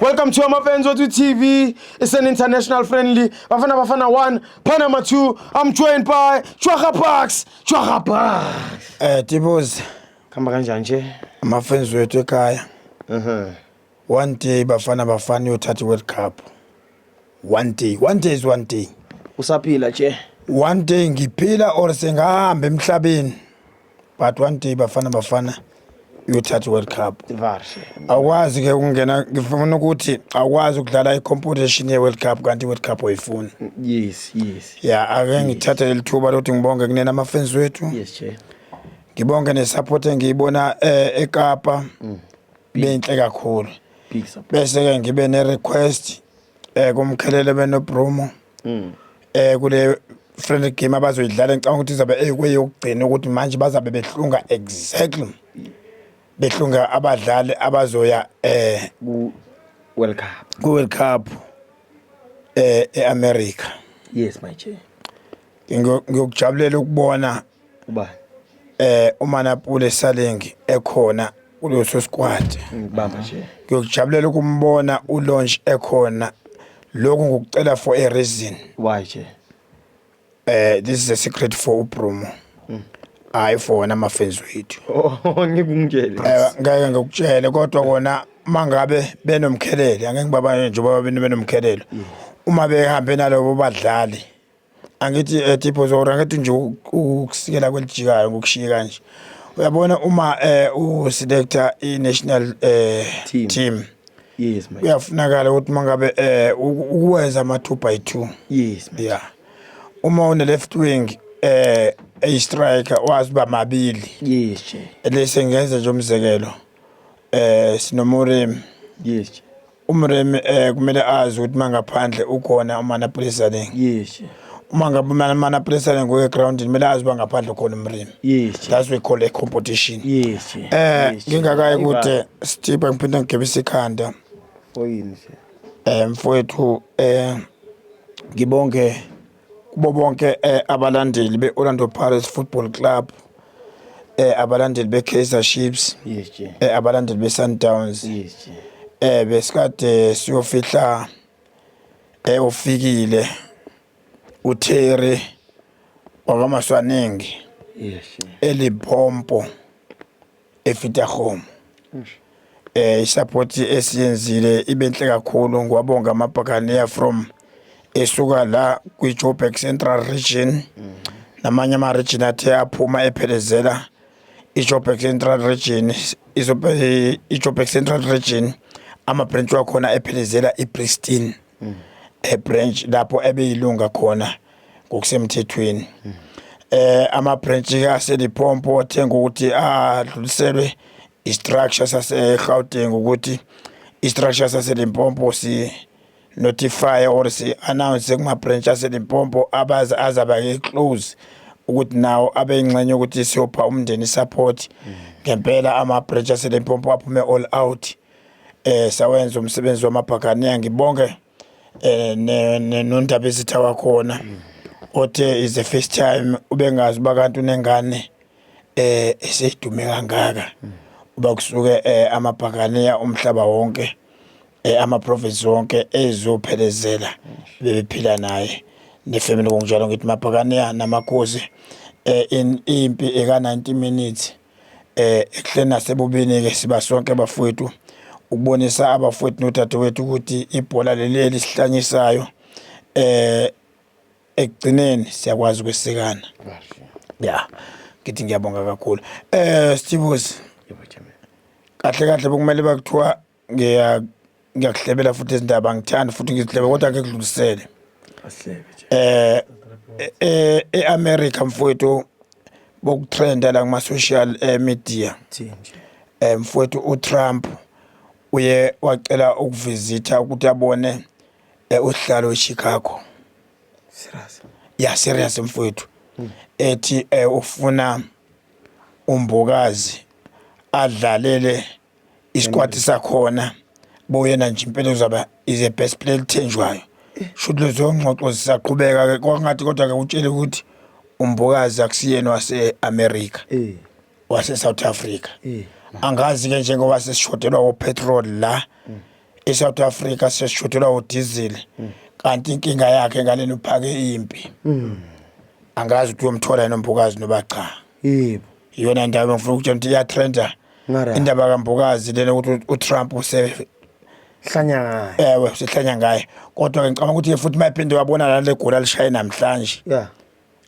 Welcome to Amapenzi Wethu TV. It's an international friendly. Bafana Bafana 1, Panama 2. I'm joined by Chwaga Parks. Chwaga Parks. Eh, Tibozi. Kamba kanjani nje? Amapenzi wethu ekhaya. Mhm. One day Bafana Bafana uyothatha iWorld Cup. One day, one day is one day. Usaphila nje. One day ngiphila or sengahamba emhlabeni. But one day Bafana Bafana uyothatha iWorld Cup. Varse. Awukwazi ke ukungena ngifuna ukuthi awukwazi ukudlala i-competition ye-World Cup kanti i-World Cup oyifuni. Yes, yes. Yeah, ake ngithathe leli thuba lokuthi ngibonge kunena ama-fans wethu. Yes, che. Ngibonge ne-support engiyibona eh, eKapa. Mm. benhle kakhulu bese ke ngibe ne request eh kumkhelele benobrumo mm. eh kule friendly game abazoyidlala ngicabanga ukuthi izobe ekweyokugcina ukuthi manje bazabe behlunga exactly behlunga abadlali abazoya eh ku World Cup ku World Cup eh eAmerica yes my chair ngiyokujabulela ukubona ubani eh umanapule salengi ekhona kuleso squad ngibamba nje ngiyokujabulela ukumbona ulaunch ekhona lokhu ngikucela for a reason why nje eh this is a secret for ubrumo mm. hayi for wena amafenzi wethu oh, ngikungitshele eh, ngeke ngikutshele kodwa kona mangabe benomkhelele angeke ngibabane njengoba benomkhelelo mm. uma behambe nalobo badlali angithi um tipho zora angithi nje ukusikela kwelijikayo ngokushiye kanje uyabona uma um uselector i-national um Team. team yes my kuyafunakala ukuthi uma ngabe um ukwenza ama-two by two yes my ya uma une-left wing um eyi-striker wazi uba mabili yes Jay. lesi ngenze nje umzekelo um sinomoremi yes Jay. umremi um kumele azi ukuthi mangaphandle ukhona umanapulisaling yes uma ngabe umanapulisaling ngoye groundini kumele azi uba ngaphandle ukhona umremi yes that's we call a competition yes um ngingakaye kude stibha ngiphinde ngigebisa ikhanda oyini um mfowethu um ngibonge kubo bonke eh, abalandeli be-orlando pirates football club eh, abalandeli be-kaizer chiefs yes je eh, abalandeli be-sundowns yes je eh, besikade siyofihla eh, ufikile uterry wakamaswaningi yes je elibhompo efitahome eh isupport esiyenzile ibenhle kakhulu ngiwabonga amabhakaniya from esuka la kwi-joburg central region namanye ama-region athe aphuma ephelezela i-joburg central region izobe i-joburg central region ama-branch wakhona ephelezela i-pristine ebranch lapho ebeyilunga khona ngokusemthethweni eh ama branch ke aselipompo othenga ukuthi adluliselwe i structure sase Gauteng ukuthi i structure sase Limpopo si notify or si announce kuma branch ase Limpopo abaza azaba ke close ukuthi nawo abe ingxenye ukuthi siyopha umndeni support ngempela ama branch ase Limpopo aphume all out eh sawenza umsebenzi wamabhakane ngibonge eh nondaba ezitha wakhona othe is the first time ubengazi uba kanti unengane eh eseyidume kangaka uba kusuke eh, amabhakaniya umhlaba wonke eh, ama-province wonke ezophelezela bebephila naye nefamily ngokunjalo ngithi mabhakaniya namakhosi eh, in impi eka-90 minutes eh ekuhleni nasebubini-ke siba sonke bafowethu ukubonisa abafowethu nodadewethu ukuthi ibhola leli elisihlanyisisayo eh ekugcineni siyakwazi ukwesekana ya ngithi ngiyabonga kakhulu eh Stevens kahle kahle bokumele bakuthiwa ngiya ngiyakuhlebela futhi izindaba ngithanda futhi ngizihlebe kodwa ke kudlulisele eh e- e-America mfowethu bokutrenda la kuma social eh, media eh mfowethu uTrump uye wacela ukuvisitha ukuthi abone eh, usihlalo eChicago Serious. ya serious mfowethu ethi eh, ufuna umbokazi adlalele isikwati sakhona boyena nje impela uzaba is a best player elithenjwayo shuthi lezo ngxoxo zisaqhubeka ke kwangathi kodwa ke utshele ukuthi umbokazi akusiyena wase-america eh. wase-south africa eh. angazi ke njengoba sesishodelwa wopetrol la mm. e-south africa sesishodelwa wodizil mm. kanti inkinga yakhe ngaleni uphake impi mm. angazi ukuthi uyomthola yini umbokazi noba cha yebo iyona ndawo engifuna ukutshela ukuthi iyatrenda Ngara. indaba kambokazi lena ukuthi utrump use hlanya ngayo ewe usehlanya ngaye kodwa-ke ngicabanga ukuthi-ke futhi uma ephinde wabona lana legoli alishaye namhlanje ya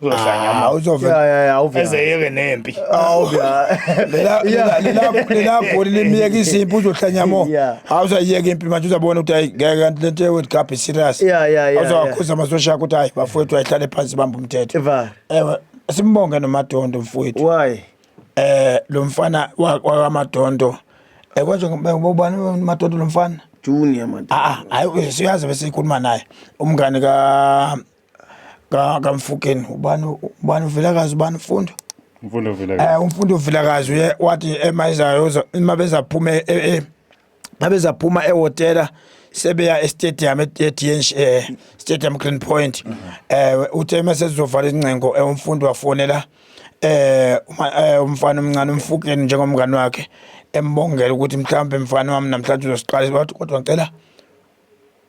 uzohlanya Ah, ama uzove ya ya ya awuvya ezeyeke nempi Awu, lela- lela- lela- lela goli limyekisa impi uzohlanya mo Yeah. hawu uzayiyeka impi manje uzabona ukuthi hayi ngeke kanti lento ye-world cup iserious Yeah, yeah, yeah, yeah. uzawakhuza amasosha akho ukuthi hayi bafowethu ayihlale phansi bamba umthetho Eva. ewe simbonge nomadondo mfowethu why eh lo mfana wakamadondo eh konje ngibani madondo lo mfana junior man ah hayi siyazi bese ikhuluma naye umngane ka ka kamfukeni ubani ubani uvelakazi ubani mfundo mfundo uvelakazi eh umfundo uvelakazi uye wathi emayizayo uma bezaphuma e, e, e, babe zaphuma ehotela sebeya estadium eTNC eh, Stadium Green Point mhm. eh uthe mase sizovala ingcengo eh, umfundi wafonela eh, eh umfana omncane umfukeni njengomngani wakhe embongela ukuthi mhlawumbe mfana wami namhlanje uzosiqala kodwa ngicela